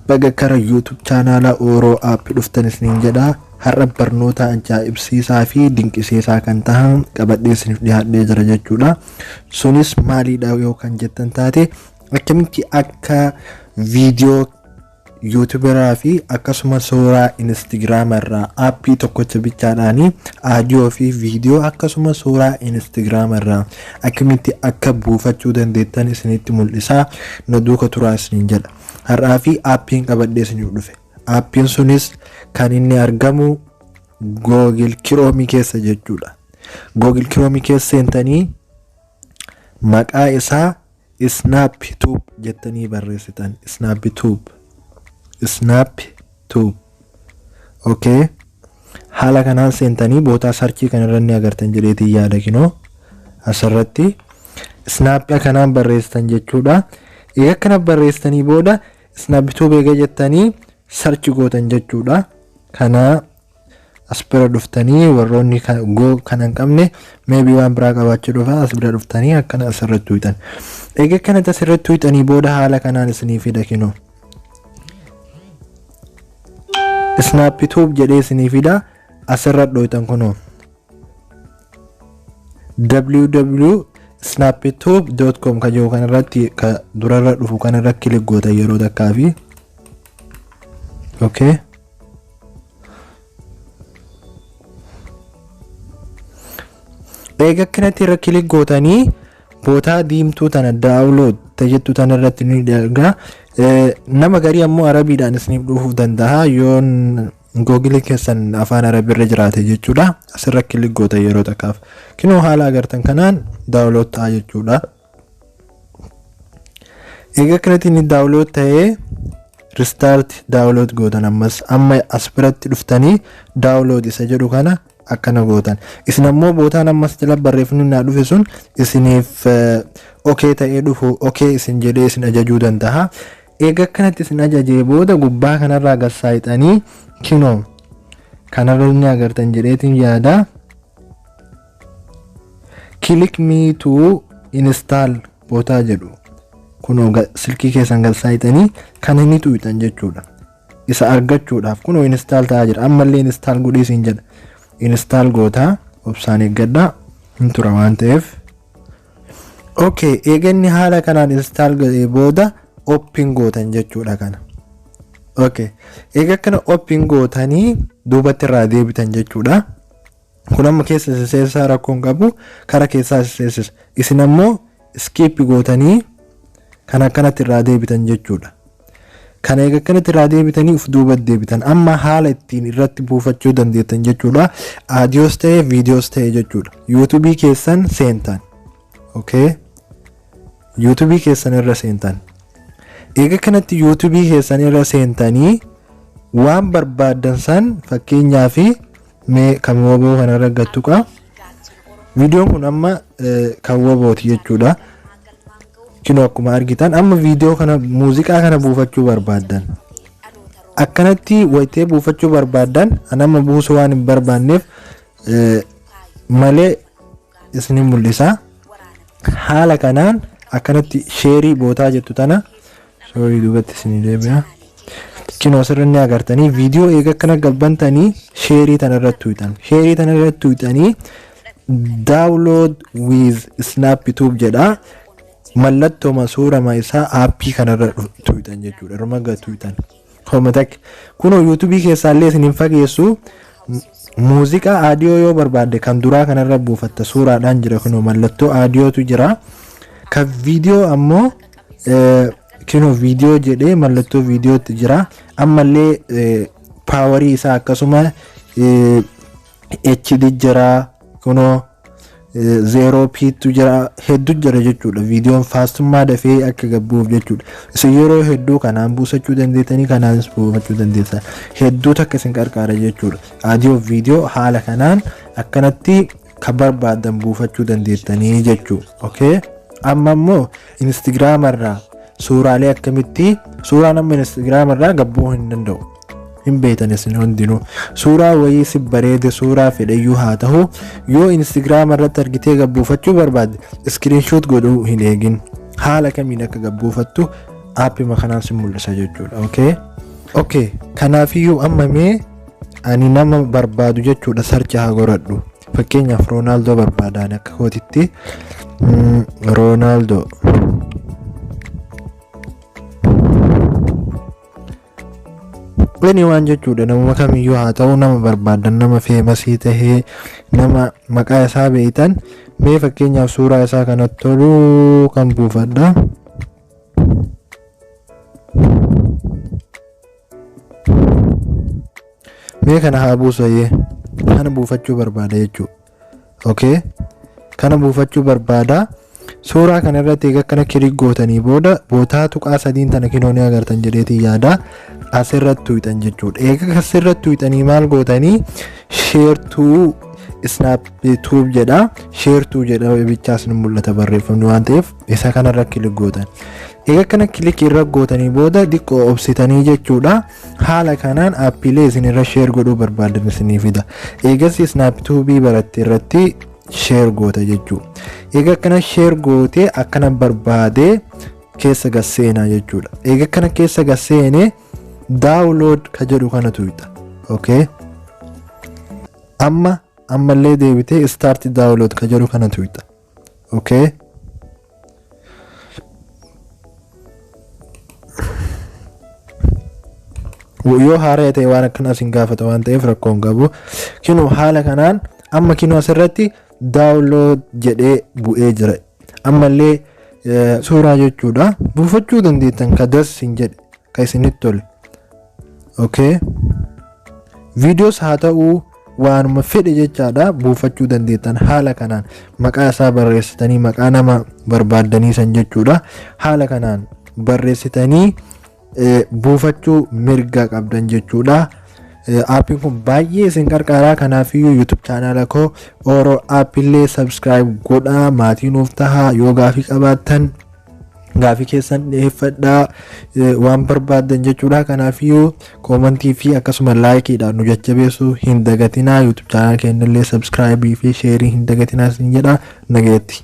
baga kara YouTube chaanaala Ooroo App dhuftan isiniin jedha. Har'a barnoota ajaa'ibsiisaa fi dinqisiisaa kan tahan qabadhee isiniif dhiyaadhee jira jechuudha. Sunis maaliidha yoo kan jettan taate akkamitti akka viidiyoo Yuutuberaa fi akkasuma suuraa Instagram irraa appii tokkocha bichaadhaan audio fi video akkasuma suuraa Instagram irraa akkamitti akka buufachuu dandeettan isinitti mul'isaa na duuka turaa isiniin jedha. Har'aa fi appiin qabadhee isiniif dhufe. Appiin sunis kan inni argamu Google Chrome keessa jechuudha. Google Chrome keessa seentanii maqaa isaa Snap tube jettanii barreessitan. Snap tube. Snap tube. Okay. Haala kanaan seentanii bootaa sarchii kanarra ni agartan jedheetiin yaada kinoo asirratti snap kanaan barreessitan jechuudha. Egaa kana barreessitanii booda snap tube egaa jettanii sarchi gootan jechuudha. Kana As bira dhuftanii warroonni go kana hin qabne maybe waan biraa qabaachuu dhufa as bira dhuftanii akkana asirratti tuuxan. Egaa akkanatti asirratti tuuxanii booda haala kanaan isinii fida kinoo. Snap tube jedhee isinii fida asirra dhooxan kunoo. www.snaptube.com ka jiru kanarratti ka durarra dhufu kanarra kilik goota yeroo takkaa fi okay. eega akkanatti irra kilik gootanii bootaa diimtuu tana daawulood jettu tana irratti ni erga Eh, nama garii ammoo arabiidhaan isiniif dhufuu danda'a yoo googilii keessan afaan arabiirra jiraate jechuudha asirra kilik goota yeroo takkaaf kinoo haala agartan kanaan daawulood ta'a jechuudha egaa kanatti inni daawulood ta'ee ristaarti daawulood gootan ammas amma as biratti dhuftanii daawulood isa jedhu kana akkana gootan isin ammoo bootaan ammas jala barreeffamni naa dhufe sun isiniif okee ta'ee dhufu okee isin jedhee isin ajajuu danda'a egaa kanatti isin ajajee booda gubbaa kanarraa gassaaxanii kinoo kanarra ni agartan jedheetiin yaadaa. Click me to install bootaa jedhu kunoo ga- silkii keessan gad saayixanii kan inni tuuxan jechuudha. Isa argachuudhaaf kunoo install ta'aa jira ammallee install godhee siin jedha. Install gootaa obsaan eeggadhaa hin tura waan ta'eef. Okay, eeganni haala kanaan install godhee booda open gootan jechuudha kana. Okay, eega kana open gootanii duubatti irraa deebitan jechuudha. Kun amma keessa isin seensisa rakkoo hin qabu kara keessaa isin seensisa isin ammoo skip gootanii kan akkanatti irraa deebitan jechuudha. Kana eega akkanatti irraa deebitanii uf duuba deebitan amma haala ittiin irratti buufachuu dandeettan jechuudha. Aadiyoos ta'e viidiyoos ta'e jechuudha. Yuutuubii keessan seentan. Okay. Yuutuubii keessan irra seentan. Eega kanatti yuutuubii keessan irra seentanii waan barbaaddan san fakkeenyaaf mee kan woboo kanarra gattuqa viidiyoon kun amma kan wobooti jechuudha kinoo akkuma argitan amma viidiyoo kana muuziqaa kana buufachuu barbaaddan akkanatti wayitee buufachuu barbaaddan an amma buusuu waan hin barbaanneef malee isin mul'isa haala kanaan akkanatti sheerii bootaa jettu tana sorry duubatti isin deebina cino asirra ni agartanii viidiyoo eega akkana gabbantanii sheerii tana irratti tuutan sheerii tana irratti tuutanii download with snap tube jedha mallattoma suurama isaa aappii kanarra tuutan jechuudha irma gatuutan Homa takka. Kunoo yuutubii keessaallee isin hin fageessu. Muuziqaa aadiyoo yoo barbaadde kan duraa kanarra buufatta suuraadhaan jira kunoo mallattoo aadiyootu jira. Kan viidiyoo ammoo eh, kunoo viidiyoo jedhee mallattoo viidiyootti jira. Ammallee eh, paawarii isaa akkasuma eh, HD jira kunoo zeeroo piittu jira heddu jira jechuudha viidiyoon faastummaa dafee akka gabbuuf jechuudha isin yeroo hedduu kanaan buusachuu dandeettanii kanaanis buufachuu dandeessan hedduu takka isin qarqaara jechuudha aadiyoo viidiyoo haala kanaan akkanatti kan barbaadan buufachuu dandeettanii jechuu okay amma immoo instagram irraa suuraalee akkamitti suuraan amma instagram irraa gabbuu hin danda'u hin beektan isin hundinuu suuraa wayii si bareede suuraa fedheyyuu haa tahu yoo instagram irratti argitee gabbuufachuu barbaadde screenshot godhuu hin eegin haala kamiin akka gabbuufattu aappima kanaan si mul'isa jechuudha okay okay kanaafiyyuu amma mee ani nama barbaadu jechuudha sarchi haa goradhu fakkeenyaaf roonaaldoo barbaadaan akka kootitti mm, roonaaldoo Bani waan jechuudha namuma kamiyyuu haa ta'u nama barbaadan nama feemasii tahee nama maqaa isaa beeytan mee fakkeenyaaf suuraa isaa kanatti tolu kan buufadha. Mee kana haa buusayyee kana buufachuu barbaada jechuudha. okay kana buufachuu barbaada suuraa kana irratti egaa kana kilik gootanii booda bootaa tuqaa sadiin tana kinoo ni agartan jedheetiin yaada asirratti tuqxan jechuudha egaa asirratti tuqxanii maal gootanii sheertuu snaap tuub jedha sheertuu jedha bichaas ni mul'ata barreeffamni waan ta'eef isa kanarra kilik gootan egaa kana kilik irra gootanii booda xiqqoo obsitanii jechuudha Haala kanaan aappiilee isin irra sheer godhuu barbaadan isinii fida. Eegasii snaaptuubii baratte irratti sheer goota jechuudha. Eega akkana sheer gootee akkana barbaadee keessa gad seenaa jechuudha. Eega akkana keessa gad seenee daawulood ka jedhu kana tuqxa. Okay. Amma ammallee deebitee istaarti daawulood ka jedhu kana tuqxa. okay yoo haaraya ta'e waan akkanaa isin gaafata waan ta'eef rakkoo hin qabu kinoo haala kanaan amma kinoo asirratti daawunlood jedhee bu'ee jira ammallee suuraa jechuudha buufachuu dandeettan ka das hin jedhe ka isinitti tole okay videos haa ta'uu waanuma fedhe jechaadha buufachuu dandeettan haala kanaan maqaa isaa barreessitanii maqaa nama barbaaddanii san jechuudha haala kanaan barreessitanii eh, buufachuu mirga qabdan jechuudha Eh, aappiin kun baay'ee isin qarqaaraa kanaafiyyuu youtube chaanaala koo oro aappiillee subscribe godhaa maatii nuuf tahaa yoo gaafii qabaattan gaafii keessan dhiyeeffadhaa eh, waan barbaaddan jechuudha kanaafiyyuu koomantii fi akkasuma laayikiidhaan nu jajjabeessuu hin dagatinaa yuutub chaanal keenya illee sabskraayibii fi sheerii hin dagatinaa isin jedha nageetti.